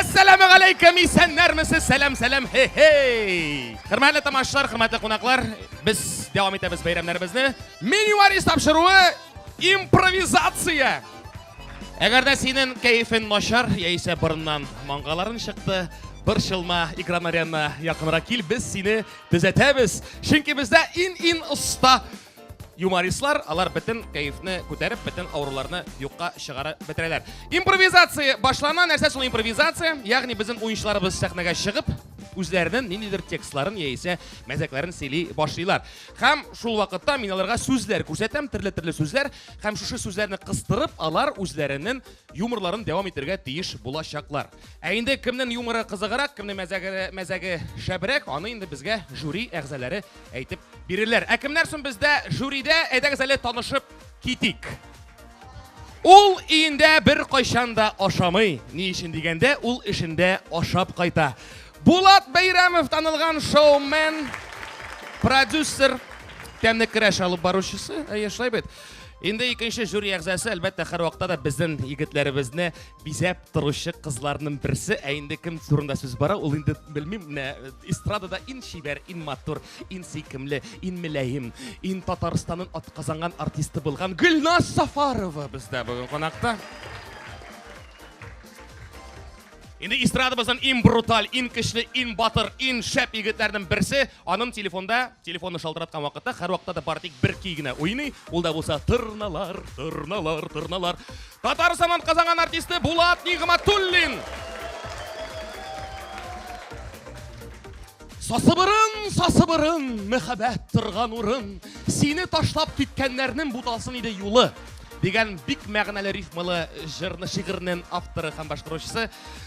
Әссәламу алейкум, исәннәрмесез? Сәлам, сәлам, хе-хей! Хөрмәтле тамашачылар, хөрмәтле кунаклар, без дәвам итәбез бәйрәмнәребезне. Меню варис тапшыруы импровизация. Әгәр дә синең кәефең начар, яисә борыннан маңгаларын чыкты, борчылма, экран арена якынрак кил, без сине төзәтәбез. Чөнки бездә ин-ин оста Юмористлар, алар бөтен кәефне күтәреп, бөтен авыруларны юкка чыгарып бетерәләр. Импровизация башлана, нәрсә шул импровизация? Ягъни безнең уенчыларыбыз сәхнәгә чыгып, үзләренең ниндидер текстларын яисә мәзәкләрен сөйли башлыйлар. Һәм шул вакытта мин аларга сүзләр күрсәтәм, төрле-төрле сүзләр, һәм шушы сүзләрне кыстырып, алар үзләренең юморларын дәвам итергә тиеш булачаклар. Ә инде кемнең юморы кызыграк, кемнең мәзәге, мәзәге шәбрәк, аны инде безгә жюри әгъзалары әйтеп бирерләр. Ә кемнәр соң бездә жюридә? Әйдәгез әле танышып китик. Ул өендә бер кайчан да ашамый. Ни өчен дигәндә, ул эшендә ашап кайта. Булат Бәйрәмов танылган шоумен, продюсер, тәмле керәш алып баручысы. Әйе, шулай бит. Инде икенче жюри әгъзасы, әлбәттә, һәрвакытта да безнең егетләребезне бизәп торучы кызларның берсе ә инде кем турында сүз бара ул инде белмим менә э, эстрадада ин чибәр ин матур ин сөйкемле ин мөләем ин татарстанның атказанган артисты булган гөлназ сафарова бездә бүген кунакта Инде эстрадабыздан ин бруталь, ин көчле, ин батыр, ин шәп егетләрнең берсе Аның телефонда, телефонны шалтыраткан вакытта һәрвакытта да бары тик бер көй генә уйный, ул да булса тырналар, тырналар, тырналар. Татар заман казанган артисты Булат Нигъматуллин! Сасыбырын, сасыбырын, мәхәббәт торган урын, сине ташлап киткәннәрнең буталсын иде юлы дигән бик мәгънәле рифмалы җырны шигырьнең авторы һәм башкаручысы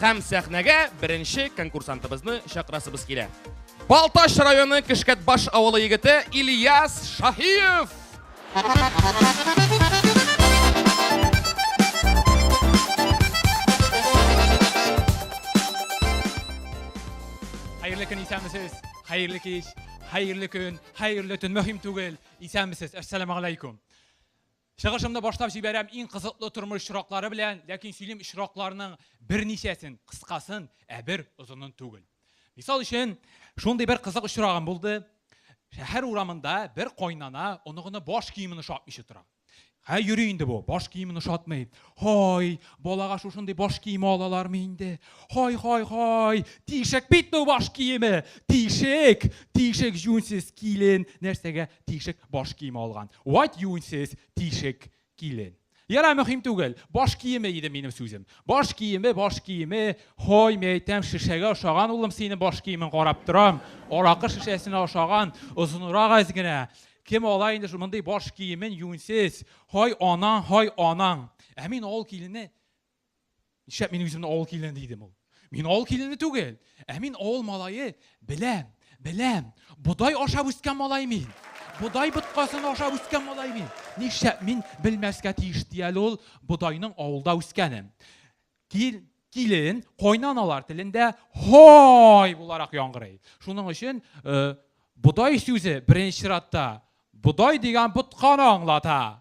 Һәм сәхнәгә беренче конкурсантыбызны чакырасыбыз килә. Балтач районы Кешкәтбаш авылы егете Ильяс Шаһиев! Хәерле көн, исәнмесез! Хәерле кич, хәерле көн, хәерле төн, мөһим түгел, исәнмесез, әссәламәгаләйкүм! Чыгышымны башлап җибәрәм иң кызыклы тормыш очраклары белән, ләкин сөйлим очракларның берничәсен, кыскасын, ә бер озынын түгел. Мисал өчен, шундый бер кызык очрагым булды, шәһәр урамында бер кайнана оныгына баш киемен ошатмыйча тора. Һә йөри инде бу, баш киемен ошатмый. Һай, балага шушындый баш киеме алалармы инде? Һай, һай, һай, тишек бит бу баш киеме, тишек, тишек җүнсез килен нәрсәгә тишек баш киеме алган. Вать юньсез тишек килен. Яра мөһим түгел. Баш киеме иде минем сүзем. Баш киеме, баш киеме. Хой, мәйтәм, шешәгә ошаган улым сине баш киемен карап торам. Аракы шешәсенә ошаган, озынрак әз генә. Кем ала инде мондый баш киемен юньсез? Хой анаң, хой анаң. Ә мин авыл килене Нишләп мин үземне авыл килене дидем ул? Мин авыл килене түгел, ә мин авыл малае беләм, беләм. Бодай ашап үскән малай мин. Бодай боткасын ашап үскән малай мин. Нишләп мин белмәскә тиеш ди әле ул бодайның авылда үскәнен. Кил, килен, кайнаналар телендә һой буларак яңгырый. Шуның өчен э, бодай сүзе беренче чиратта бодай дигән ботканы аңлата.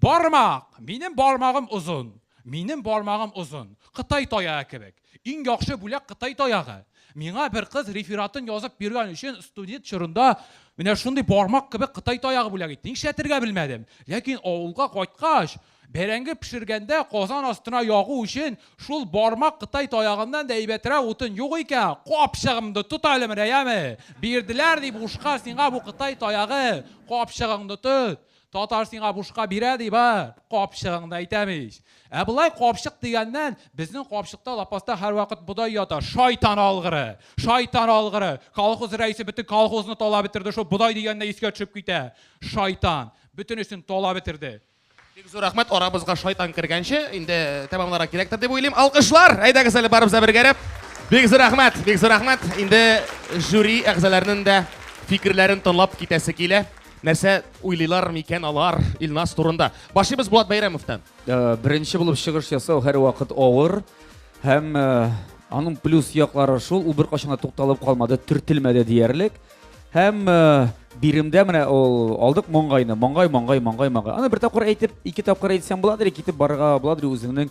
Бармак! Минем бармагым озын! Минем бармагым озын! Кытай таягы кебек! Иң яхшы бүләк Кытай таягы! Миңа бер кыз рефератын язып биргән өчен студент чорында менә шундый бармак кебек Кытай таягы бүләк итте. Нишләтергә белмәдем. Ләкин авылга кайткач, бәрәңге пешергәндә казан астына ягу өчен шул бармак Кытай таягыннан да әйбәтрәк утын юк икән, капчыгыңны тот әле, менә, яме! Бирделәр дип ушка сиңа бу Кытай таягы, капчыгыңны тот! Татар сиңа бушка бирә, ди, бар, капчыгың да әйтәм ич. Ә болай капчык дигәннән, безнең капчыкта лапаста һәрвакыт бодай ята, шайтан алгыры! Шайтан алгыры! Колхоз рәисе бөтен колхозны талап бетерде, шул бодай дигәнне искә төшеп китә. Шайтан! Бөтенесен талап бетерде. Бик зур рәхмәт, арабызга шайтан кергәнче, инде тәмамларга кирәктер дип уйлыйм. Алкышлар! Әйдәгез әле барыбыз да бергәрәп. Бик зур рәхмәт, бик зур рәхмәт. Инде жюри әгъзаларының да фикерләрен тыңлап китәсе килә. Нәрсә уйлыйлар микән алар Илназ турында? Башлыйбыз Булат Бәйрәмовтан. Э, беренче булып чыгыш ясау һәрвакыт авыр һәм э, аның плюс яклары шул, ул беркайчан да тукталып калмады, төртелмәде диярлек. Һәм э, биремдә менә ул алдык моңгайны, моңгай, моңгай, моңгай, моңгай. Аны бер тапкыр әйтеп, ике тапкыр әйтсәң буладыр, китеп барырга буладыр үзеңнең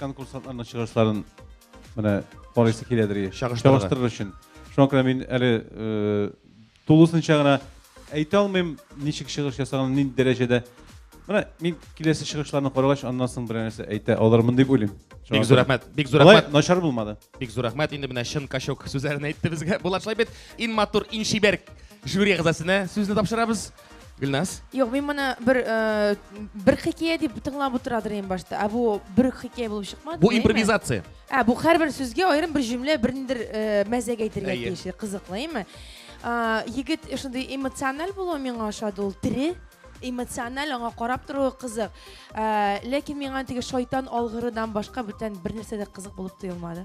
конкурсантларның чыгышларын менә карыйсы киләдер ие чагыштырыр өчен шуңа күрә мин әле тулысынча гына әйтә алмыйм ничек чыгыш ясаган нинди дәрәҗәдә менә мин киләсе чыгышларны карагач аннан соң берәр нәрсә әйтә алырмын дип уйлыйм бик зур рәхмәт бик зур рәхмәт начар булмады бик зур рәхмәт инде менә чын качок сүзләрен әйтте безгә булат шулай бит иң матур иң чибәр жюри әгъзасына сүзне тапшырабыз Гөлназ? Юк, мин моны бер э, бер хикәя дип тыңлап утырадыр ин башта. Ә бу бер хикәя булып чыкмады. Бу импровизация. Ә бу һәрбер сүзгә аерым бер җөмлә, бер ниндер э, мәзәк әйтергә тиеш. Кызыклы, әйме? Егет шундый эмоциональ булу миңа ошады, ул тире эмоциональ аңа карап торуы кызык. Ләкин миңа теге шайтан алгырыдан башка бүтән бер нәрсә дә кызык булып тоелмады.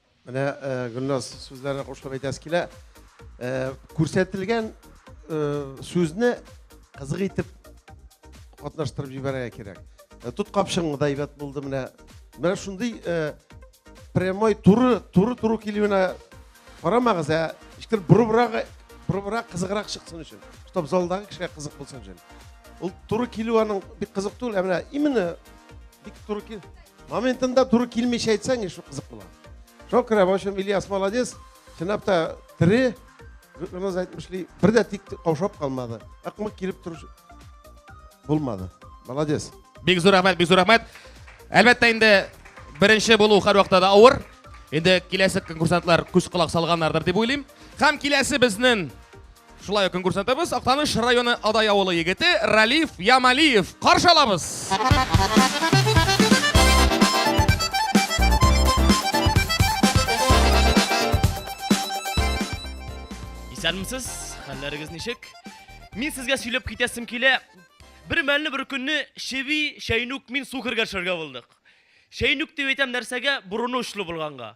Менә Гөлназ сүзләренә кушылып әйтәсе килә. Күрсәтелгән сүзне кызык итеп катнаштырып җибәрергә кирәк. Тот капшыңны да әйбәт булды менә. Менә шундый прямой туры, туры туры килүенә карамагыз, ә ишкер бурыбрак, бурыбрак кызыграк чыксын өчен. Чтоб залдагы кешегә кызык булсын өчен. Ул туры килү аның бик кызык түгел, ә менә именно бик туры кил. Моментында туры килмичә әйтсәң, шул кызык була. Шуңа күрә, в общем, Ильяс молодец, чынлап та тере, Гүрназ әйтмешли, бер дә тик каушап калмады. Ыкмык килеп тору булмады. Молодец. Бик зур рәхмәт, бик зур рәхмәт. Әлбәттә инде беренче булу һәрвакытта да авыр. Инде киләсе конкурсантлар күз колак салганнардыр дип уйлыйм. Һәм киләсе безнең Шулай ук конкурсантыбыз Актаныш районы Адай авылы егете Ралиф Ямалиев. Каршы алабыз! Исәнмесез, хәлләрегез ничек? Мин сезгә сөйләп китәсем килә. Бер мәлне бер көнне Шеви, Шәйнүк, мин су кергәшергә булдык. Шәйнүк дип әйтәм нәрсәгә? Борыны очлы булганга.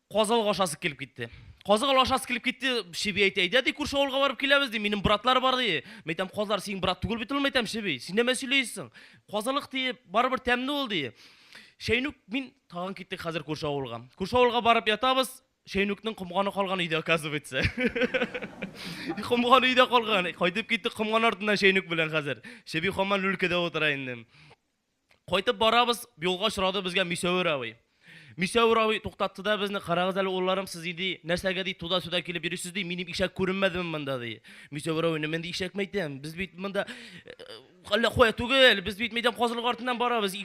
Казылык ашасы килеп китте. Казыгыл ашасы килеп китте, Чеби әйтә, әйдә ди, күрше авылга барып киләбез ди, минем братлар бар ди. Мәйтәм, казлар синең брат түгел бит ул, мәйтәм, Чеби, син нәмә сөйләйсең? Казылык ди, барыбер тәмле ул ди. Шәйнүк, мин тагын киттек хәзер күрше авылга. Күрше авылга барып ятабыз, Шәйнүкнең комганы калган өйдә, оказывается. Комган өйдә калган. Кайтып киттек комган артыннан Шәйнүк белән хәзер. Чеби хаман люлькәдә утыра инде. Кайтып барабыз, юлга очрады безгә Мисәвер абый. Мисәвер абый туктатты да безне, карагыз әле улларым сез иди, нәрсәгә ди туда-суда килеп йөрисез ди, минем ишәк күренмәдеме монда ди. Мисәвер абый, мен ди ишәк мәйтәм, без бит монда әллә кая түгел, без бит мәйтәм казылык артыннан барабыз.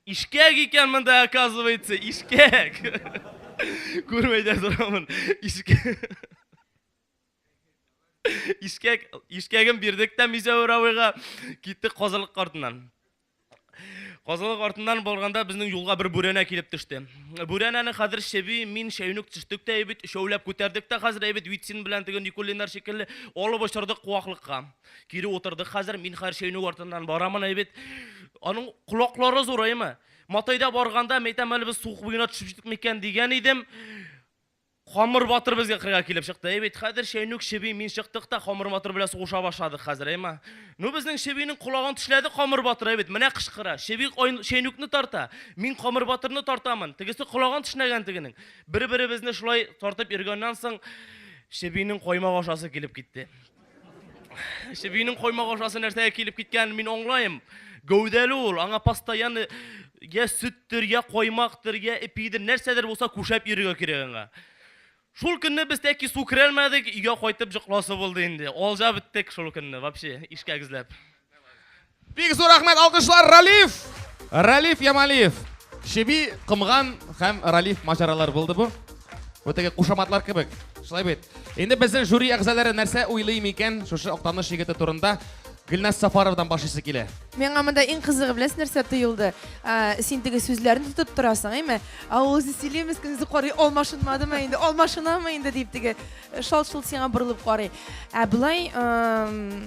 Ишкәк икән монда, оказывается, ишкәк. Күрмәй дә торамын. Ишкәк. Ишкәк, ишкәген бирдек тә Мизәвер авыга, киттек казылык артыннан. Казылык артыннан барганда безнең юлга бер бүрәнә килеп төште. Бүрәнәне хәзер Шеби, мин, Шәйнүк төштек тә әйбит, өчәүләп күтәрдек тә хәзер әйбит Витсин белән теге Никулиннар шикелле алып очырдык куаклыкка. Кире утырдык хәзер, мин хәзер Шәйнүк артыннан барамын әйбит. Аның колаклары зураймы? Матайда барганда, мәйтәм әле без суык буена төшеп җиттек микән дигән идем. Камыр батыр безгә кырга килеп чыкты. Әй бит, хәзер Чәйнүк, Чеби, мин чыктык та Камыр батыр белән сугыша башладык хәзер, әйма. Ну, безнең Чебинең колагын тешләде Камыр батыр, әй бит, менә кычкыра. Чеби Чәйнүкне тарта, мин Камыр батырны тартамын. Тегесе колагын тешләгән тегенең. Бер-беребезне шулай тартып йөргәннән соң, Чебинең каймак ашасы килеп китте. Эше бинең коймак ашасы нәрсәгә килеп киткән, мин аңлаем. Гәүдәле ул, аңа постоянно я сөттер, я коймактыр, я ипидер, нәрсәдер булса күшәп йөрергә кирәк аңа. Шул көнне без тәки су керәлмәдек, өйгә кайтып җыкласы булды инде. Алҗа беттек шул көнне, вообще, ишкәк эзләп. Бик зур рәхмәт, алкышлар Ралиф! Ралиф Ямалиев. Чеби, Кымган һәм Ралиф маҗаралар булды бу. Бу теге кушаматлар кебек. Шулай бит. Инде безнең жюри әгъзалары нәрсә уйлый микән шушы Актаныш егете турында? Гөлназ Сафаровдан башлыйсы килә. Миңа монда иң кызыгы беләсез нәрсә тоелды? Ә, Син теге сүзләрне тотып торасың, әйме? Ә ул үзе сөйли, мескин, үзе карый, алмашынмадымы инде, алмашынамы инде дип теге шалт-шолт сиңа борылып карый. Ә болай, эм,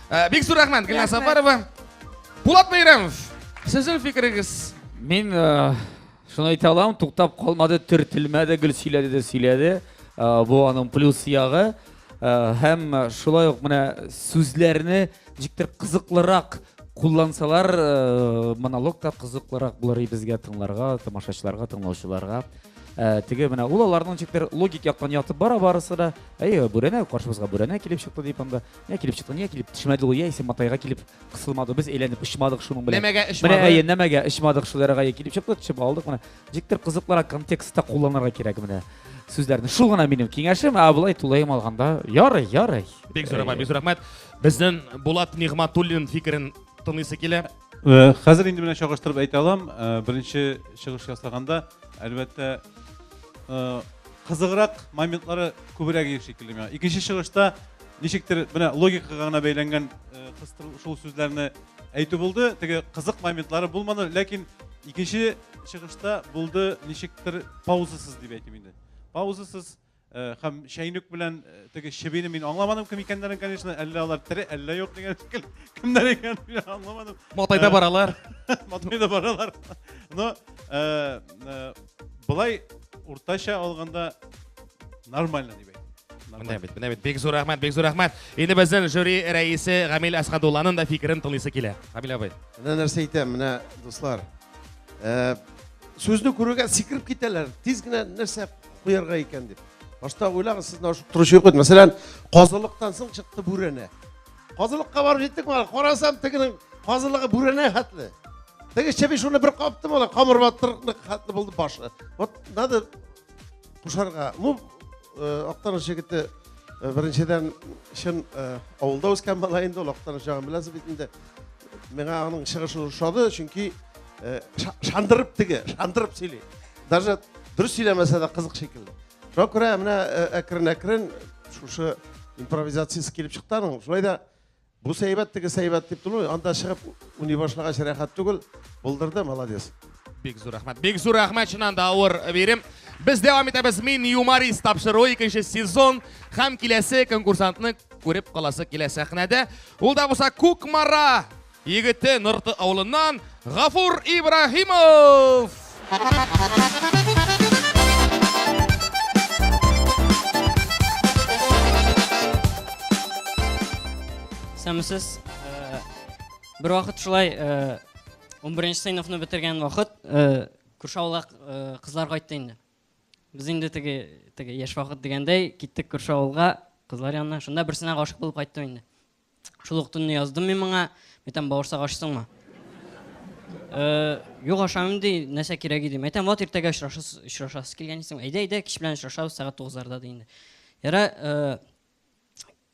Э, бик зур рәхмәт, Гөлназ Сафарова. Булат Бәйрәмов, сезнең фикерегез? Мин э, шуны әйтә алам, туктап калмады, төртелмәде, гел сөйләде дә сөйләде. Э, бу аның плюс ягы. Һәм шулай ук менә сүзләрне ничектер кызыклырак куллансалар э, монолог та кызыклырак булыр безгә тыңларга тамашачыларга тыңлаучыларга э, теге менә ул аларның ничектер логик яктан ятып бара барысы да әйе бүрәнә каршыбызга бүрәнә килеп чыкты дип анда Йә килеп чыкты, йә килеп төшмәде ул, яисә матайга килеп кысылмады. Без әйләнеп очмадык шуның белән. Нәмәгә очмады. Менә әйе, нәмәгә очмадык шул арага килеп чыкты, төшеп алдык менә. Диктор кызыклыра контекстта кулланырга кирәк менә сүзләрне. Шул гына минем киңәшем, ә болай тулаем алганда ярый, ярый. Бик зур рәхмәт, бик зур рәхмәт. Безнең Булат Нигматуллин фикерен тыңлыйсы килә. Э, хәзер инде менә чагыштырып әйтә алам. Э, беренче чыгыш ясаганда, әлбәттә, э, кызыграк моментлары күбрәк ир шикелле миңа. Икенче чыгышта Ничектер менә логикага гына бәйләнгән кыстыру шул сүзләрне әйтү булды. Теге кызык моментлары булмады, ләкин икенче чыгышта булды ничектер паузасыз дип әйтим инде. Паузасыз һәм чәйнек белән теге чебине мин аңламадым кем икәннәрен, конечно, әллә алар тере, әллә юк дигән шикелле. Кемнәр икәнен мин аңламадым. Матайда баралар. Матайда баралар. Но Болай уртача алганда нормально дип Менә бит, менә бит. Бик зур рәхмәт, бик зур рәхмәт. Инде безнең жюри рәисе Гамил Әсхадулланың да фикерен тыңлыйсы килә. Гамил абый. Менә нәрсә әйтәм, менә дуслар. Э, сүзне күрүгә сикереп китәләр. Тиз генә нәрсә куярга икән дип. Башта уйлагыз, сез торучы юк. Мәсәлән, казылыктан соң чыкты бүрәнә. Казылыкка барып җиттек бала. Карасам, тегенең казылыгы бүрәнә хәтле. Теге чеби шуны бер капты бала, камыр батырны хәтле булды башы. Вот надо кушарга. Бу э, актаныш егете э, беренчедән чын э, авылда үскән бала инде, ул актаныш ягын беләсез бит инде. Миңа аның чыгышы ошады, чөнки шандырып теге, шандырып сөйли. Даже дөрес сөйләмәсә дә кызык шикелле. шуңа күрә менә э, әкрен әкрен шушы импровизациясы килеп чыкты аның шулай да бу сәйбәт теге сәйбәт дип тору анда чыгып уйный башлагач рәхәт түгел булдырды молодец бик зур рәхмәт бик зур рәхмәт чыннан да авыр бирем без дәвам итәбез мин юморист тапшыруы икенче сезон һәм киләсе конкурсантны күреп каласы килә сәхнәдә ул да булса кукмара Егете Нырты авылыннан Гафур Ибраһимов! Сәмсез, э, бер вакыт шулай 11 э, нче сыйныфны бетергән вакыт э, күрше авылга кызлар кайтты инде. Без инде теге теге яшь вакыт дигәндәй киттек күрше авылга кызлар янына. Шунда берсенә гашык булып кайттым инде. Шул ук төнне яздым мин моңа, мәйтәм, бавырсак ашсыңмы? Э, юк, ашамыйм ди, нәрсә кирәк иде. Мәйтәм, вот иртәгә очрашасыз, очрашасыз килгән исең. Әйдә, әйдә, кич белән очрашабыз, сәгать 9-ларда ди инде. Яра, э,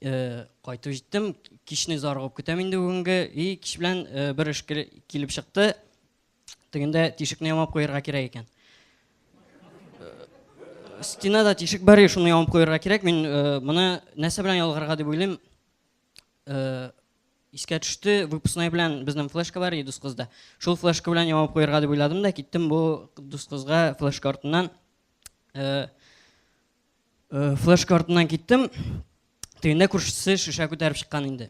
э, кайтып җиттем, кичне зарыгып көтәм инде бүгенге. И, кич белән э, бер эш килеп чыкты. Тегендә тишекне ямап куярга кирәк икән. Э, стенада тишек бар, шуны ямап куярга кирәк. Мин э, моны нәрсә белән ялгарга дип уйлыйм. Э, искә төште, выпускной белән безнең флешка бар иде дус кызда. Шул флешка белән ямап куярга дип уйладым да киттем бу дус кызга флешка артыннан. Флешка артыннан киттем. Тегендә күршесе шешә күтәреп чыккан инде.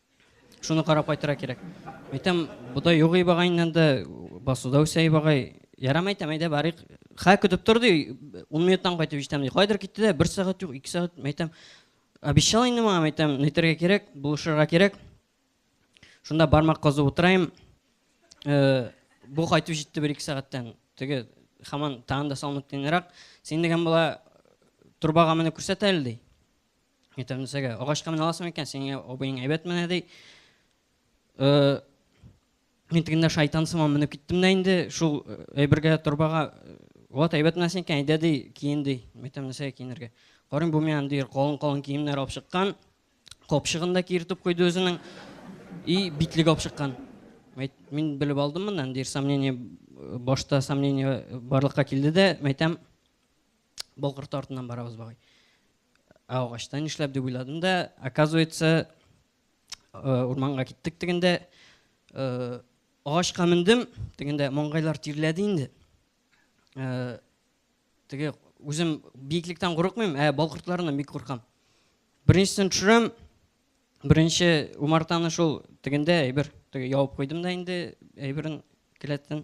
Шуны карап кайтырга кирәк. Әйтәм, бодай юк ибагай инде, басуда үсә ибагай. Ярам әйтәм, әйдә барыйк. Хә көтеп тор ди, 10 минуттан кайтып җитәм ди. Кайдыр китте дә, бер сәгать юк, ике сәгать. Әйтәм, обещал инде миңа, әйтәм, нитәргә кирәк, булышырга кирәк. Шунда бармак казып утырайм. Э, бу кайтып җитте бер ике сәгатьтән. Теге хаман тагын да салынып тинрак. Син дигән була турбага менеп күрсәт әле ди. Ятәмзәгә. Агачка менә аласың икән, сиңа абыең әйбәт менә ди. Э, мин тегендә шайтан сыман менеп киттем дә инде, шул э, әйбергә торбага э, вот әйбәт менә синекен, әйдә ди, киен ди. Ятәмзәгә киенергә. Карыйм бу миңа ди, калын-калын киемнәр алып чыккан. Капчыгын да киертеп куйды үзенең. И битлек алып чыккан. Мин белеп алдым моннан, ди, сомнение башта сомнение барлыкка килде дә, мәйтәм, Болгырты артыннан барабыз бабай. Ә агачта нишләп дип уйладым да, оказывается, э, урманга киттек дигәндә, э, агачка мендем, дигәндә маңгайлар тирләде инде. Э, теге үзем биеклектән курыкмыйм, ә балкыртларыннан бик куркам. Беренчесен төшерәм, беренче умартаны шул тегендә әйбер теге явып куйдым да инде әйберен келәттән.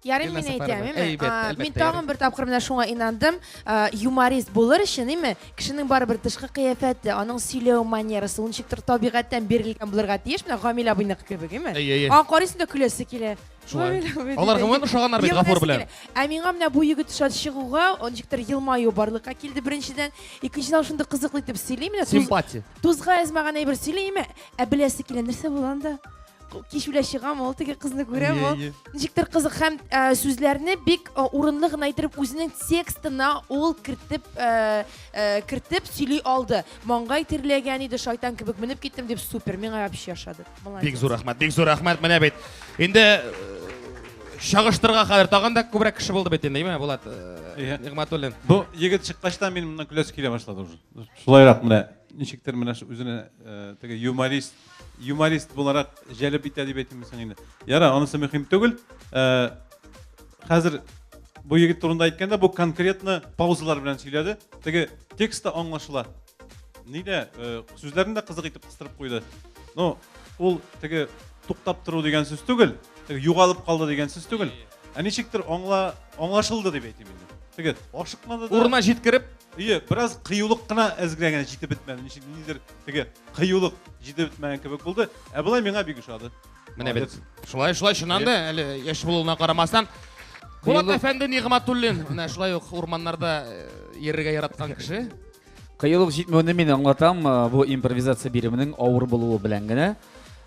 Ярый мин әйтәм, әйме? Мин тагын бер тапкыр менә шуңа инандым. Юморист булыр өчен, әйме? Кешенең барыбер тышкы кыяфәте, аның сөйләү манерасы, ул ничектер табигатьтән бирелгән булырга тиеш. Менә Гамил абыйныкы кебек, әйме? Аңа карыйсың да көләсе килә. Шулай. Алар гомумән ошаганнар бит Гафур белән. Ә миңа менә бу егет шат чыгуга, он ничектер елмаю барлыкка килде беренчедән. Икенчедән, шундый кызыклы итеп сөйли менә. Симпатия. Тузга язмаган әйбер сөйли, әйме? Ә беләсе килә, нәрсә булганда? кичүлә чыгам ул теге кызны күрәм ул ничектер кызык һәм сүзләрне бик урынлы гына итеп үзенең текстына ул кертеп кертеп сөйли алды маңгай тирләгән иде шайтан кебек менеп киттем дип супер миңа вообще ошады бик зур рәхмәт бик зур рәхмәт менә бит инде чагыштырга хәзер тагын да күбрәк кеше булды бит инде әйме булат нигматуллин бу егет чыккачтан мин моннан көләсе килә башлады уже шулайрак менә ничектер менә үзенә теге юморист юморист буларак җәлеп итә дип әйтимме соң инде. Ярар, анысы мөһим түгел. Э, хәзер бу егет турында әйткәндә, бу конкретно паузалар белән сөйләде. Теге текст та аңлашыла. Нидә э, сүзләрен дә кызык итеп кыстырып куйды. Ну, ул теге туктап тору дигән сүз түгел, теге югалып калды дигән сүз түгел. Ә ничектер аңла аңлашылды дип әйтим инде. Теге ашыкмады да. Урына җиткереп, Ие, бераз кыюлык кына әзгә генә җитеп бетмәде. Ничек нидер теге кыюлык җитеп бетмәгән кебек булды. Ә болай миңа бик ошады. Менә бит. Шулай, шулай чыннан да, әле яшь булуына карамастан. Булат әфәнде Нигъматуллин, менә шулай ук урманнарда э, йөрергә яраткан кеше. Кыюлык җитмәвен мин аңлатам, э, бу импровизация биремнең авыр булуы белән генә.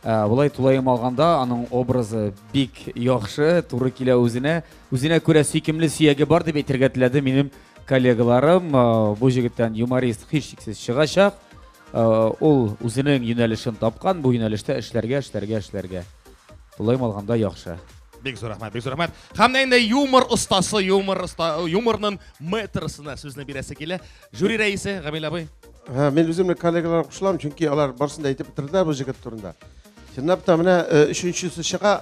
Э, болай тулаем алганда аның образы бик яхшы, туры килә үзенә. Үзенә күрә сөйкемле сөяге бар дип әйтергә теләде минем коллегаларым. Бу җегеттән юморист һичшиксез чыгачак. Ул үзенең юнәлешен тапкан, бу юнәлештә эшләргә, эшләргә, эшләргә. Тулаем алганда яхшы. Бик зур рәхмәт, бик зур рәхмәт. Һәм инде юмор остасы, юмор оста, юморның мэтрсына сүзне бирәсе килә. Жюри рәисе Гамил абый. Һә, мин үземне коллегаларга кушылам, чөнки алар барысын да әйтеп бетерделәр бу җегет турында. Чынлап та менә өченчесе чыга.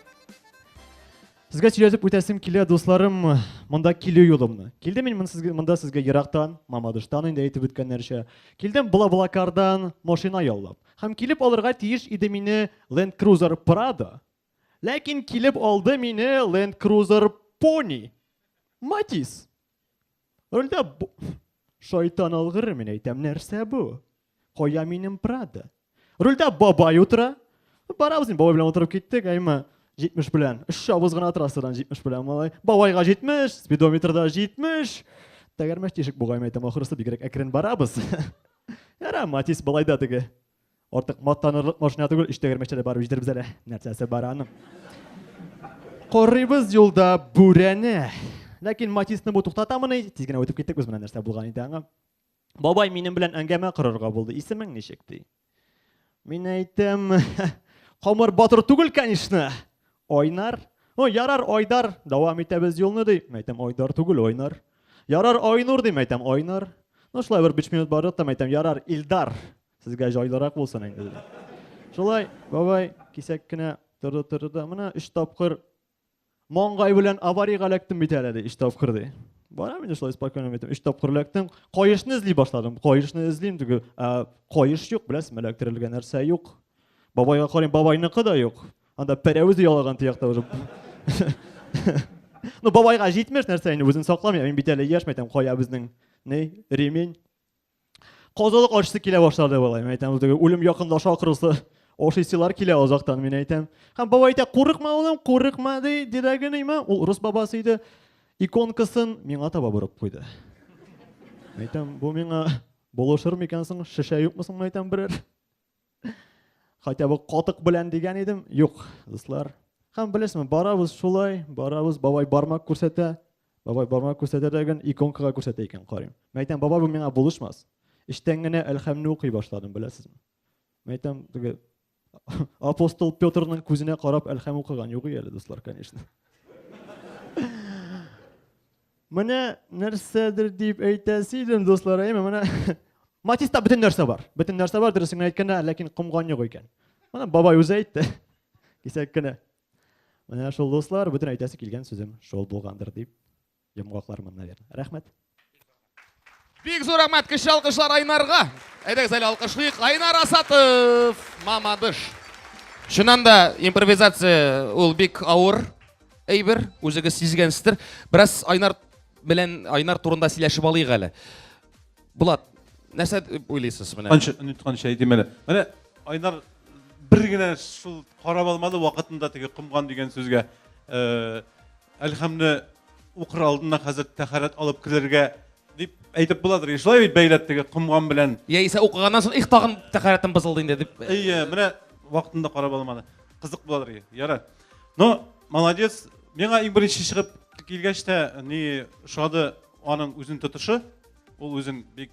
Сезгә сөйләтеп үтәсем килә, дусларым, монда килү юлымны. Килдем мин монда сезгә ерактан, Мамадыштан инде әйтеп үткәннәрчә. Килдем Блаблакардан машина яллап. Һәм килеп алырга тиеш иде мине Land Cruiser Prado. Ләкин килеп алды мине Land Cruiser Pony. Матис. Өлдә бу... Шайтан алгыры, мин әйтәм, нәрсә бу? Кая минем Прада? Рульдә бабай утыра. Барабыз инде бабай белән утырып киттек, әйме, 70 белән. Өч чабыз гына трассадан 70 белән, малай. Бабайга 70, спидометрда 70. Тәгәрмәч тишек бугай, әйтәм, ахырысы бигрәк әкрен барабыз. Яра, Матис, былай да теге. Артык мактанырлык машина түгел, өч тәгәрмәчтә дә барып җитербез әле. Нәрсәсе бар аның? Карыйбыз юлда бүрәне. Ләкин Матисны бу туктатамыни? Тиз генә үтеп киттек без менә нәрсә булган иде аңа. Бабай минем белән әңгәмә корырга булды. Исемең ничек ди? Мин әйтәм, Камыр батыр түгел, конечно. Айнар. Ну, ярар, Айдар, дәвам итәбез юлны ди. Мин әйтәм, Айдар түгел, Айнар. Ярар, Айнур ди, мин әйтәм, Айнар. Ну, шулай бер 5 минут бардык та, мин әйтәм, ярар, Илдар. Сезгә җайлырак булсын инде. Шулай, бабай кисәк кенә торды торды да менә өч тапкыр маңгай белән аварийга эләктем бит әле ди, өч тапкыр ди. Барам инде шулай спокойно бит. Өч тапкыр эләктем. Каешны эзли башладым. Каешны эзлим диге, ә каеш юк, беләсезме, эләктерелгән нәрсә юк. Бабайга карыйм, бабайныкы да юк. Анда пәрәвез ялаган тиякта уже. Ну, бабайга җитмеш нәрсә инде үзен сакламый, мин бит әле яшь мәйтәм, кая безнең, ни, ремень. Казылык ашысы килә башлады болай. Мин әйтәм, теге үлем якынлаша акрысы. Ашыйсылар килә озактан, мин әйтәм. Һәм баба әйтә, курыкма улым, курыкма, ди, дидәгенейме? Ул рус бабасы иде. Иконкасын миңа таба борып куйды. Әйтәм, бу миңа булышыр микән соң, шешә юкмы соң, әйтәм, берәр. Хотя бы котык белән дигән идем. Юк, дуслар. Һәм белесезме, барабыз шулай, барабыз, бабай бармак күрсәтә. Бабай бармак күрсәтә дә икән, иконкага күрсәтә икән, карыйм. Мен әйтәм, бабай бу миңа булышмас. Эштән генә әлхәмне укый башладым, беләсезме? Мен әйтәм, теге апостол Петрның күзенә карап әлхәм укыган юк әле, дуслар, конечно. Менә нәрсәдер дип әйтәсе идем, дуслар, әйме, менә Матиста бөтен нәрсә бар. Бөтен нәрсә бар, дөресен әйткәндә, ләкин комган юк икән. Менә бабай үзе әйтте. Кисәк кенә. Менә шул дуслар, бөтен әйтәсе килгән сүзем шул булгандыр дип йомгаклармын, наверное. Рәхмәт. Бик зур рәхмәт, кеше алкышлар Айнарга. Әйдәгез әле алкышлыйк. Айнар Асатов, Мамадыш. Чыннан да импровизация ул бик авыр әйбер, үзегез сизгәнсездер. Бераз Айнар белән Айнар турында сөйләшеп алыйк әле. Булат, нәрсә уйлыйсыз менә? Анча онытканча әйтим әле. Менә Айнар бер генә шул карап алмады вакытында теге комган дигән сүзгә. Э, Әлхәмне укыр алдына хәзер тәхәрәт алып керергә дип әйтеп буладыр. И шулай бит бәйләп теге комган белән. Яисә укыганнан соң их тагын тәхәрәтем бозылды инде дип. Әйе, менә вакытында карап алмады. Кызык буладыр. Ярар. Ну, молодец. Миңа иң беренче чыгып килгәч тә ни шады аның үзен тотышы. Ул үзен бик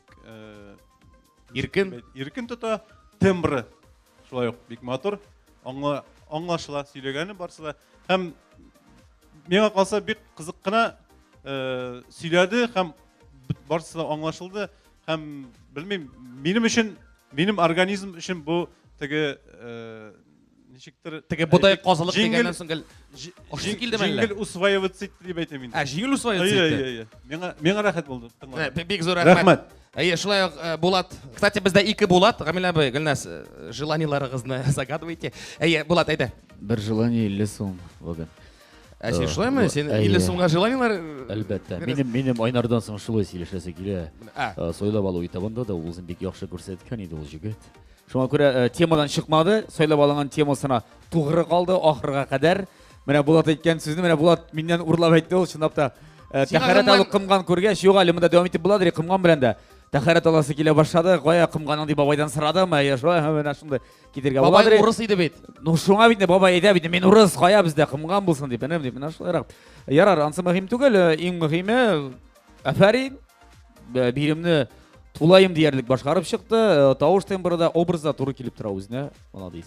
иркен, иркен тота, тембры Шулай ук бик матур, аңла, аңлашыла сөйләгәне барсы да. Һәм миңа калса бик кызык кына э, сөйләде һәм барсы да аңлашылды һәм белмим, минем өчен, минем организм өчен бу теге э, ничектер теге бодай казылык дигәннән соң гел ошысы килдеме әллә җиңел усваиваться итте дип әйтәм инде ә җиңел усваиваться итте миңа миңа рәхәт булды бик зур рәхмәт Әйе, шулай ук э, Булат. Кстати, бездә ике Булат, Гамилә абый, Гөлназ, э, желаниеларыгызны загадывайте. Әйе, Булат, әйдә. Бер желание 50 сум бүген. Ә син шулаймы? Син 50 сумга желаниелар? Э, Әлбәттә. Минем минем Айнардан соң шулай сөйләшәсе килә. Ә. Сайлап алу этабында да ул үзен бик яхшы күрсәткән иде ул җегет. Шуңа күрә темадан чыкмады, сайлап алынган темасына тугры калды ахырга кадәр. Менә Булат әйткән сүзне, менә Булат миннән урлап әйтте ул, чынлап та. Э, Син Тәхәрәт агымнан- алып кымган күргәч, юк әле монда дәвам итеп була, ди, кымган белән дә. Тәхәрәт аласы килә башлады, кая кымганың дип бабайдан сорадым, әйе, шулай, һә, менә шундый китергә була, Бабай ди. урыс иде бит. Ну шуңа бит инде бабай әйтә бит, мин урыс, кая бездә кымган булсын дип, энем дип, менә шулайрак. Ярар, ансы мөһим түгел, э, иң мөһиме, әфәрин, э, биремне тулаем диярлек башкарып чыкты, э, тавыш тембры да, образ да туры килеп тора үзенә, молодец.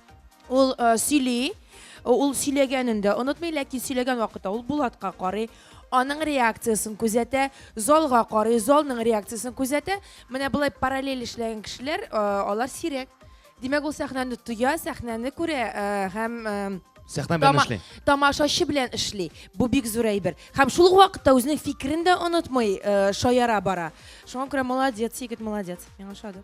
Ул сөйли, ул сөйләгәнен дә онытмый, ләкин сөйләгән вакытта ул Булатка карый, аның реакциясен күзәтә, залга карый, залның реакциясен күзәтә. Менә болай параллель эшләгән кешеләр, алар сирәк. Димәк, ул сәхнәне тоя, сәхнәне күрә һәм сәхнә белән эшли. Тамашачы белән эшли. Бу бик зур әйбер. Һәм шул ук вакытта үзенең фикерен дә онытмый, шаяра бара. Шуңа күрә молодец, егет, молодец. Миңа ошады.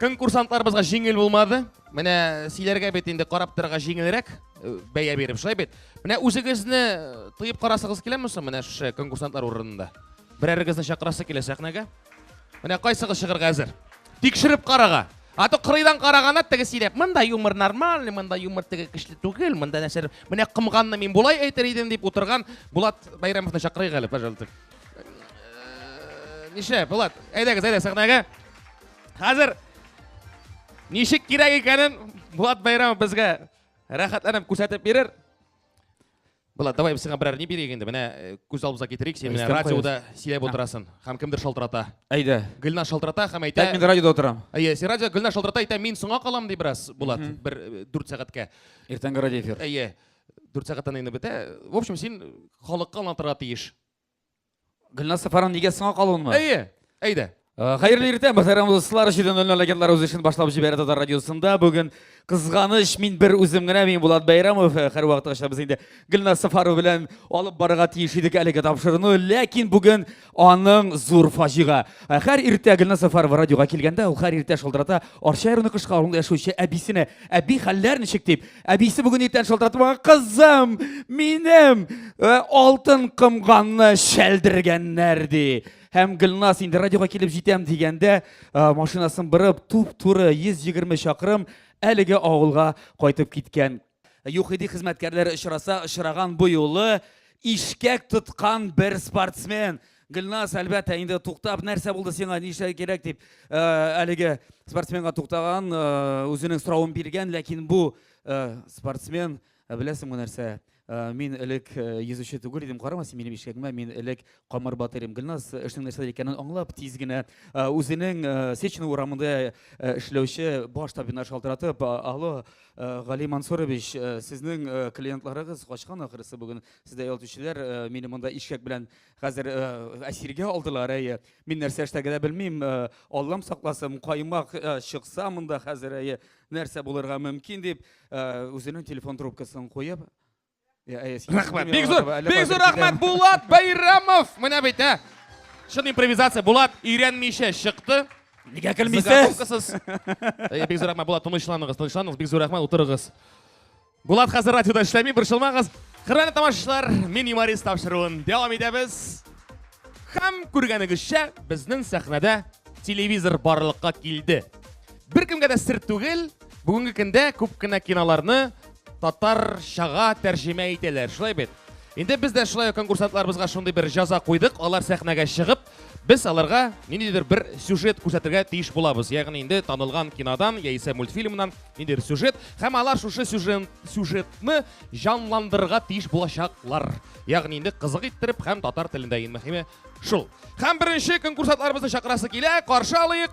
конкурсантларыбызга җиңел булмады менә сөйләргә бит инде карап торырга җиңелрәк э, бәя биреп шулай бит менә үзегезне э, тоеп карасыгыз киләме соң менә шушы конкурсантлар урынында берәрегезне чакырасы килә сәхнәгә менә кайсыгыз чыгарга әзер тикшереп карага а то кырыйдан караганда теге сөйләп монда юмор нормальный монда юмор теге көчле түгел монда нәрсә менә комганны мин болай әйтер идем дип утырган булат бәйрәмовны чакырыйк әле пожалуйста Нишлә, Булат, әйдәгез, әйдә сәхнәгә. Хәзер ничек кирәк икәнен Булат Байрамов безгә рәхәтләнеп күрсәтеп бирер. Булат, давай сиңа берәр ни бирик инде. Менә э, күз алдыбызга китерик, син менә радиода сөйләп утырасын. Һәм кемдер шалтырата. Әйдә. Гөлна шалтырата һәм әйтә. Мин радиода утырам. Әйе, син радио Гөлна шалтырата әйтә, мин соңа калам ди бераз, Булат, бер 4 э, сәгатькә. Иртәнге радио эфир. Әйе. 4 сәгатьтән инде бетә. В общем, син халыкка аңлатырга тиеш. Гөлназ Сафарова нигә соңга калуынмы? Әйе, әйдә. Э, хәерле иртә, мөхтәрәм дуслар, җиден ноль легендар үз эшен башлап җибәрә татар радиосында. Бүген кызганыч, мин бер үзем генә, мин Булат Бәйрәмов. Э, һәр вакытта без инде Гөлназ Сафарова белән алып барырга тиеш идек әлеге тапшыруны, ләкин бүген аның зур фаҗига. Э, һәр иртә Гөлназ Сафарова радиога килгәндә, ул һәр иртә шылдырата Арча районы Кышкы авылында яшәүче әбисенә, әби хәлләр ничек дип, Әбисе бүген иртән шалтыратып алган кызым, минем э, алтын кымганны шәлдергәннәр ди. Һәм Гөлназ инде радиога килеп җитәм дигәндә, э, машинасын бырып, туп-туры 120 чакрым әлеге авылга кайтып киткән. Юхиди хезмәткәрләре очраса, очраган бу юлы ишкәк тоткан бер спортсмен. Гөлназ, әлбәттә, инде туктап, нәрсә булды сиңа, нишләр кирәк дип, э, әлеге спортсменга туктаган, э, үзенең соравын биргән, ләкин бу э, спортсмен, беләсеңме нәрсә, мин элек йөзүче түгел идем, карама син минем ишәгемә, мин элек камыр батыр идем. Гөлназ эшнең нәрсә икәнен аңлап, тиз генә үзенең Сечина урамында эшләүче баш табибына шалтыратып, алло, Гали Мансурович, сезнең клиентларыгыз качкан ахырысы бүген, сездә ял итүчеләр, мине монда ишәк белән Хәзер э, әсиргә алдылар, әйе. Мин нәрсә эшләргә дә белмим. Э, Аллам сакласын, каймак э, чыкса монда хәзер, әйе, нәрсә булырга мөмкин дип, үзенең телефон трубкасын куеп, Рәхмәт. Бик зур, бик зур рәхмәт Булат Байрамов. Менә бит, ә. Шын импровизация. Булат өйрәнмичә чыкты. Нигә көлмисез? Бик зур рәхмәт Булат, тынычланыгыз, тынычланыгыз. Бик зур рәхмәт, утырыгыз. Булат хәзер радиода эшләми, борчылмагыз. Хөрмәтле тамашачылар, мин юморист тапшыруын дәвам итәбез. Һәм күргәнегезчә, безнең сәхнәдә телевизор барлыкка килде. Бер кемгә дә сер түгел, бүгенге көндә күп кенә киноларны татарчага тәрҗемә итәләр, шулай бит? Инде без дә шулай конкурсантларыбызга шундый бер җаза куйдык, алар сәхнәгә чыгып, Без аларга ниндидер бер сюжет күрсәтергә тиеш булабыз. Ягъни инде танылган кинодан яисә мультфильмнан ниндидер сюжет һәм алар шушы сюжет сюжетны җанландырырга тиеш булачаклар. Ягъни инде кызык иттереп һәм татар телендә иң мөһиме шул. Һәм беренче конкурсантларыбызны чакырасы килә, каршы алыйк.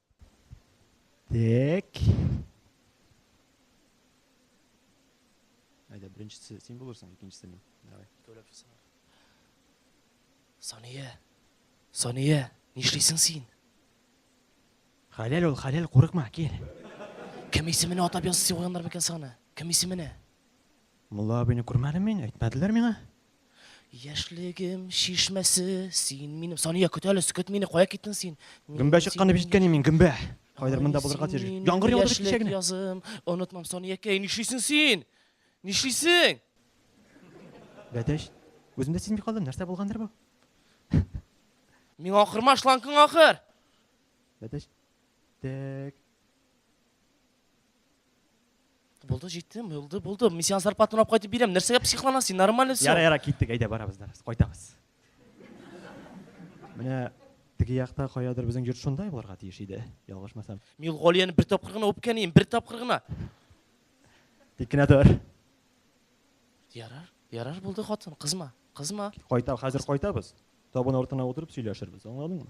Так. Әйдә, беренчесе син булырсың, икенчесе мин. Давай. Икәүләп чыксыннар. Сания. Сания, нишлисең син? Хәләл ул, хәләл, курыкма, кил. Кем исеменә атап язып сыйганнар микән саны? Кем исеменә? Мулла абыйны күрмәдем мин, әйтмәделәр миңа. Яшьлегем чишмәсе син минем. Сания, көт әле, көт мине, кая киттең син? Гөмбә чыккан дип ишеткән мин, гөмбә. Кайдыр монда булырга тиеш. Яңгыр яуды кичә генә. Язым, онытмам Саниякәй, нишлисең син? Нишлисең? Бәдәш, үземдә сизми калдым, нәрсә булгандыр бу? Миңа акырма, шланкың акыр. Бәдәш. Так. Булды, җиттем, булды, булды. Мин сиңа зарплатаны алып кайтып бирәм. Нәрсәгә психлана син? Нормально все. Яра, яра, киттек, әйдә барабыз, барабыз, кайтабыз. Менә теге якта каядыр безнең йорт шундай булырга тиеш иде, ялгышмасам. Мин ул Галияне бер тапкыр гына үпкәнем, бер тапкыр гына. Тик кенә тор. Ярар, ярар булды хатын, кызма, кызма. Кайта, хәзер кайтабыз. Табын артына утырып сөйләшербез, аңладыңмы?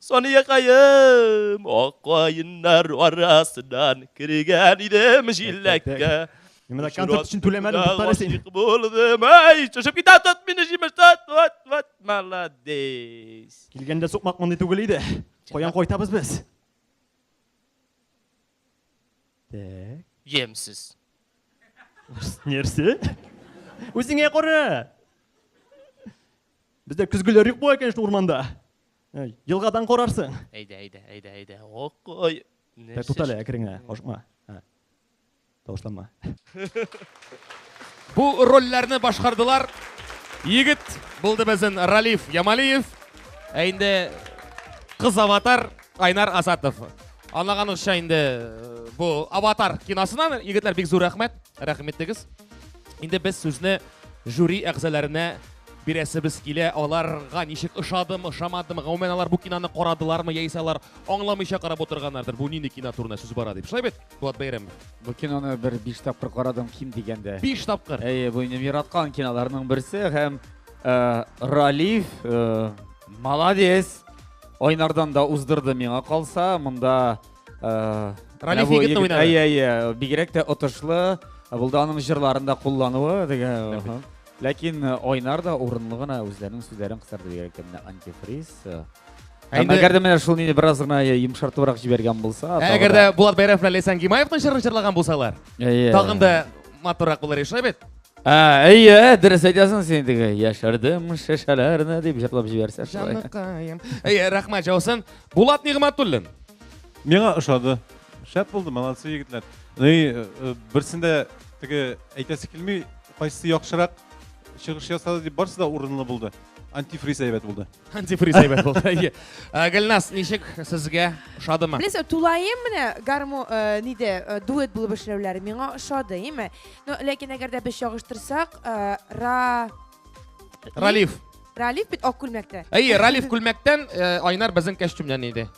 Саниякаем, акаеннар арасыннан кергән идем җилләккә. Менә концерт өчен түләмәдем, туктале син. Булдым, ай, төшеп китә тот мине җимештә, вот, вот, молодец. Килгәндә сукмак мондый түгел иде. Каян кайтабыз без? Так. Ямсыз. Нәрсә? Үзеңә кара. Бездә көзгеләр юк була икән шул урманда. Елгадан карарсың. Әйдә, әйдә, әйдә, әйдә. Ок, ой. Нәрсә? Тот әле әкрен генә, ашыкма. Тавышланма. Бу рольләрне башкардылар. Егет булды безнең Ралиф Ямалиев. Ә инде кыз аватар Айнар Азатов. Анаганыкча инде э, бу аватар киносына егетләр бик зур рәхмәт. Рәхмәт итегез. Инде без сүзне жюри әгъзаларына Бирәсебез килә, аларга ничек ошадым, ошамадым, гомумән алар бу киноны карадылармы, яисә алар аңламыйча карап утырганнардыр, бу нинди кино турында сүз бара дип. Шулай бит, Булат Бәйрәмов? Бу киноны бер биш тапкыр карадым ким дигәндә. Биш тапкыр? Әйе, бу минем яраткан киноларның берсе һәм э, Ралиф э, молодец. Айнардан да уздырды миңа калса, монда э, Ралиф егетне уйнады. Әйе, әйе, бигрәк тә отышлы, булды аның җырларын да куллануы, диген. Ләкин Айнар да урынлы гына үзләренең сүзләрен кысырды бигрәк тә менә антифриз. Әйдә. Әгәр дә менә шул нине бераз гына йомшартыбрак җибәргән булса, Әгәр дә Булат Бәйрәм белән Лейсан Гимаевның җырын җырлаган булсалар, тагын да матуррак булыр иде, шулай бит? Ә, әйе, дөрес әйтәсең син теге. Яшәрдем шешәләрне дип җырлап җибәрсә. Җаныкаем. Әйе, рәхмәт җаусын. Булат Нигъмәтуллин. Миңа ошады. Шәп булды, молодцы егетләр. Ну и э, берсендә теге әйтәсе килми, Кайсы яхшырак чыгыш ясады дип барсы да урынлы булды. Антифриз әйбәт булды. Антифриз әйбәт булды. Әйе. Ә, Гөлназ, ничек сезгә ошадымы? Беләсең, тулаем менә гармо э, ниде э, дуэт булып эшләүләре миңа ошады, име? Но ләкин әгәр дә без чагыштырсак, э, ра Ралиф. Ралиф бит ак күлмәктә. Әйе, Ралиф күлмәктән, э, Айнар безнең костюмнан иде.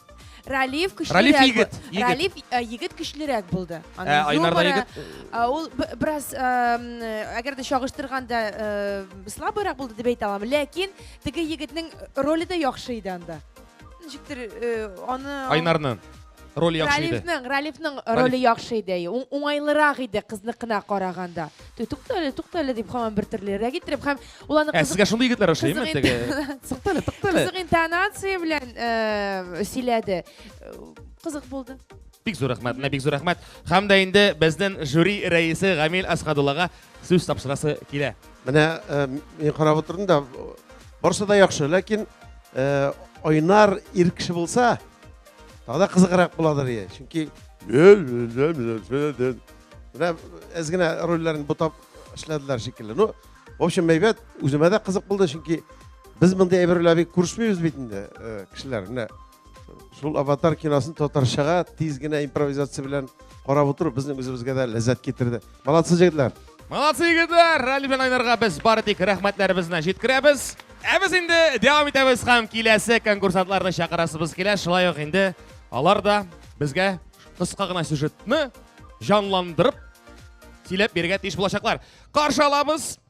Ралиф көчлерәк. Ралиф егет, бу- егет. Ралиф э, егет көчлерәк булды. Ә, Аның Айнар да юморы, егет. э, Ул б- бераз, эм, э, әгәр дә чагыштырганда, э, слабыйрак булды дип әйтә алам. Ләкин теге егетнең роле дә яхшы иде анда. Ничектер э, аны Айнарны. Роль яхшы иде. Ралифның, Ралифның роле яхшы иде. Уң- Уңайлырак иде кызныкына караганда. Ту- Туктале, туктале дип һаман бер төрле рәк иттереп һәм ул аны Ә кызык- сезгә шундый егетләр ошыймы кызык теге? интон- Тыктале, тыктале. кызык интонация белән э, сөйләде. Э, Кызык булды. Бик зур рәхмәт, менә бик зур рәхмәт. Һәм дә инде безнең жюри рәисе Гамил Асхадуллага сүз тапшырасы килә. Менә э, мин карап утырдым да барысы да яхшы, ләкин э, Айнар ир кеше булса, тагы да кызыграк буладыр ие. Чөнки менә әз генә рольләрен бутап эшләделәр шикелле. Ну, в общем, әйбәт, үземә дә кызык булды, чөнки без мондый әйберләр бик күрсмибез бит инде, э, кешеләр. Менә Шул аватар киносын татарчага тиз генә импровизация белән карап утыру безнең үзебезгә дә ләззәт китерде. Молодцы, җегетләр! Молодцы, егетләр! Ралли белән айнарга без бары тик рәхмәтләребезне җиткерәбез. Ә без инде дәвам итәбез һәм киләсе конкурсантларны чакырасыбыз килә. Шулай ук инде алар да безгә кыска гына сюжетны җанландырып сөйләп бирергә тиеш булачаклар. Каршы алабыз!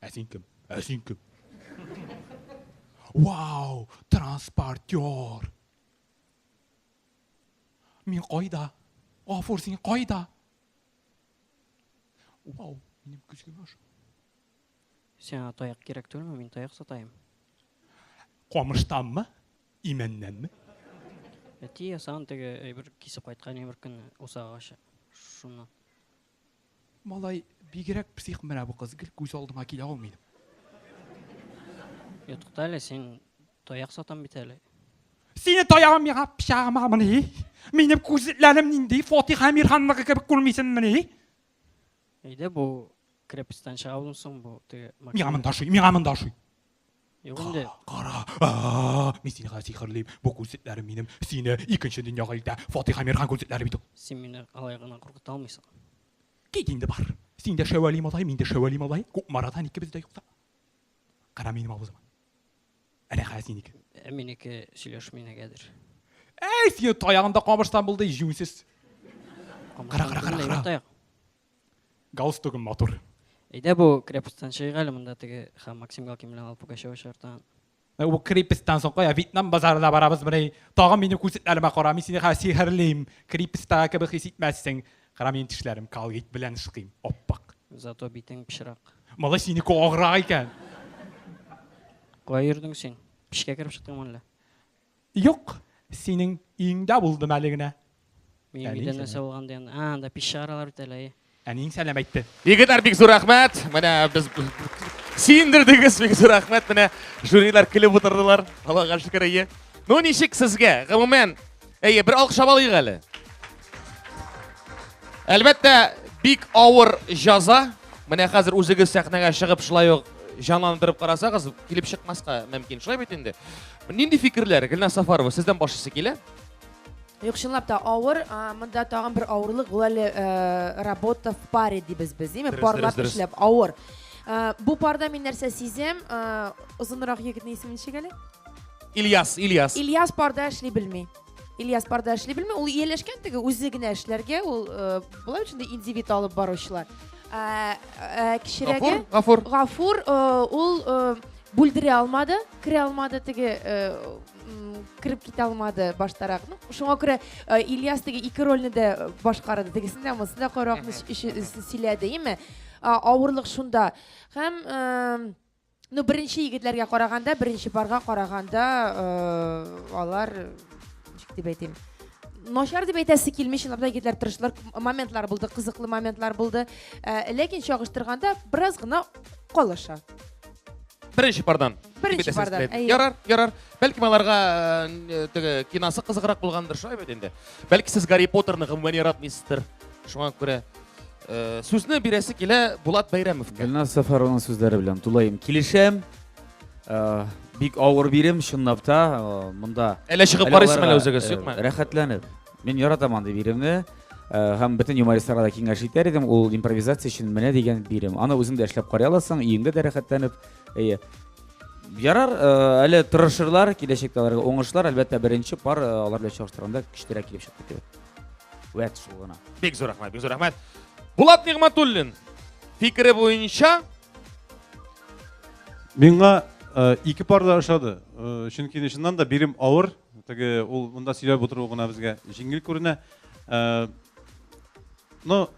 Ә син кем? Ә син кем? Вау, транспортер. Мин кайда? Гафур, син кайда? Вау, минем көзгем аша. Сиңа таяк кирәк түгелме? Мин таяк сатаем. Камыштанмы? Имәннәнме? Әти ясаган теге әйбер кисеп кайткан әйбер көнне усагачы. Шуны. Малай бигрәк псих менә бу кыз, гел күз алдыма килә ул минем. Йә, тукта әле, син таяк сатам бит әле. Сине таягым миңа пычагыма мени? Минем күзләрем нинди Фатих Әмирханныкы кебек күрмисен мени? Әйдә бу крепостьтан чыга соң бу теге. Миңа монда шуй, миңа монда шуй. Юк инде. Кара, а, мин сине хәзер сихерлим. Бу күзлекләрем минем сине икенче дөньяга илтә. Фатиха Мирхан күзлекләре бит ул. Син мине алай гына куркыта алмыйсың. Кит инде бар. Син дә Шәвәли малай, мин дә Шәвәли малай. Кукмарадан икебез дә юкса. Кара минем авызыма. Әнә хәзер синеке. Ә минеке сөйләшми нигәдер. Әй, сине таягында камырсан булды, җүнсез. Кара, кара, кара, кара. Таяк. Галстугым матур. Әйдә бу крепостьтан чыгыйк әле, монда теге һәм Максим Галкин белән Алла Пугачева чыгыртан. Ә бу крепостьтан соң кая? Вьетнам базарына барабыз менә. Тагын минем күзлекләремә кара, мин сине хәзер сихерлим. Крепостьтагы кебек хис итмәссең. Кара, минем тешләрем калгит белән шыкыйм, ап-ак. Зато битең пычрак. Малай, синеке аграк икән. Кая йөрдең син? Пешкә кереп чыктыңмы әллә? Юк, синең өеңдә булдым әле генә. Минем Әниң өйдә нәрсә сәлам. булган дигән. А, анда пич чыгаралар бит әле. әй. Әниең сәлам әйтте. Егетләр, бик зур рәхмәт. Менә без сөендердегез, бик зур рәхмәт. Менә жюрилар көлеп утырдылар. Аллага шөкер, әйе. Ну, ничек сезгә? Гомумән, әйе, бер алкышлап алыйк әле. Әлбәттә, бик авыр җаза. Менә хәзер үзегез сәхнәгә чыгып шулай ук җанландырып карасагыз, килеп чыкмаска мөмкин. Шулай бит инде. Нинди фикерләр, Гөлназ Сафарова, сездән башлысы килә? Юк, чынлап та авыр. А, Монда тагын бер авырлык ул әле э, работа в паре дибез без, димме? Дөрес, Парлап дөрес, дөрес. эшләп авыр. Э, Бу парда мин нәрсә сизәм? Э, Озынрак егетнең исеме ничек әле? Ильяс, Ильяс. Ильяс парда эшли белми. Ильяс бар да эшли белми, ул ияләшкән теге үзе генә эшләргә, ул э, болай өчен дә индивид алып баручылар. Ә, ә, кечерәге Гафур, Гафур. Гафур э, ул э, бүлдерә алмады, керә алмады теге э, м, кереп китә алмады баштарак. Ну, шуңа күрә э, Ильяс теге ике рольне дә э, башкарды. Тегесен дә, монысын да каракны Мгм, сөйләде, име? А, Авырлык шунда. Һәм э, Ну, беренче егетләргә караганда, беренче парга караганда, э, алар, ничек дип әйтим, начар дип әйтәсе килми, чынлап та егетләр тырышлар, моментлар булды, кызыклы моментлар булды. Э, ләкин чагыштырганда бераз гына калыша. Беренче пардан. Беренче пардан. Ярар, ярар. Бәлки аларга э, теге кинасы кызыграк булгандыр, шулай бит инде. Бәлки сез Гарри Поттерны гомумән яратмыйсыздыр. Шуңа күрә Э, сүзне бирәсе килә Булат Бәйрәмовка. Гөлназ Сәфәрованың сүзләре белән тулаем килешәм. Э, бик авыр бирем, чынлап та, э, монда. Әле чыгып карыйсың әле үзегез, юкмы? Рәхәтләнеп. Мин яратам андый биремне. Һәм бөтен юмористларга да киңәш итәр идем, ул импровизация өчен менә дигән бирем. Аны үзең дә эшләп карый аласың, өеңдә дә рәхәтләнеп. Әйе. Ярар, әле тырышырлар, киләчәктә аларга уңышлар, әлбәттә, беренче пар алар белән чагыштырганда көчлерәк килеп чыкты кебек. Вәт шул гына. Бик зур рәхмәт, бик зур рәхмәт. Булат Нигматуллин фикере буенча Миңа э, ике пар да ошады. Э, чөнки чыннан да бирем авыр. Теге ул монда сөйләп утыру гына безгә җиңел күренә. Э, но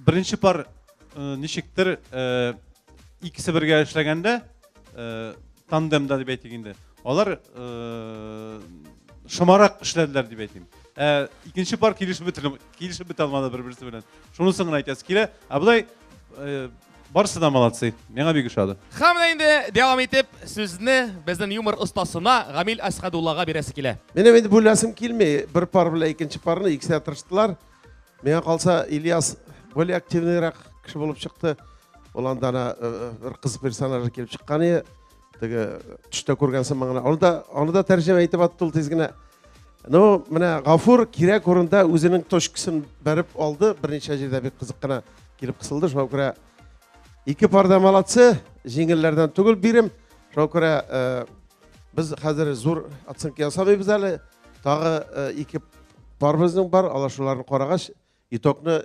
беренче пар э, ничектер э, икесе бергә эшләгәндә э, тандемда дип әйтик инде. Алар шомарак эшләделәр дип әйтим. Ә икенче пар килешеп бетер, килешеп бетә алмады бер-берсе белән. Шунысын гына әйтәсе килә. Ә болай барысы да молодцы. Миңа бик ошады. Һәм менә инде дәвам итеп сүзне безнең юмор остасына Гамил Асхадуллага бирәсе килә. Менә инде бүләсем килми. Бер пар белән икенче парны икесе тырыштылар. Миңа калса Ильяс более активныйрак кеше булып чыкты. Ул анда бер кыз персонажы килеп чыккан иде. теге төштә күргән сыман гына аны да аны да тәрҗемә итеп атты ул тиз генә ну менә гафур кирәк урында үзенең точкасын бәреп алды берничә җирдә бик кызык кына килеп кысылды шуңа күрә ике парда молодцы җиңелләрдән түгел бирем шуңа күрә э, без хәзер зур оценка ясамыйбыз әле тагы э, ике парыбызның бар алар шуларны карагач итогны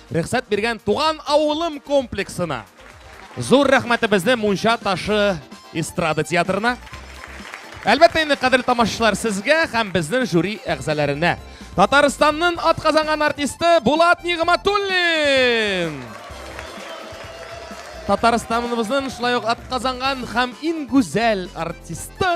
Рөхсәт биргән Туган авылым комплексына. Зур рәхмәтебезне Мунча ташы эстрада театрына. Әлбәттә инде, кадерле тамашачылар, сезгә һәм безнең жюри әгъзаларына. Татарстанның атказанган артисты Булат Нигъматуллин! Татарстаныбызның шулай ук атказанган һәм иң гүзәл артисты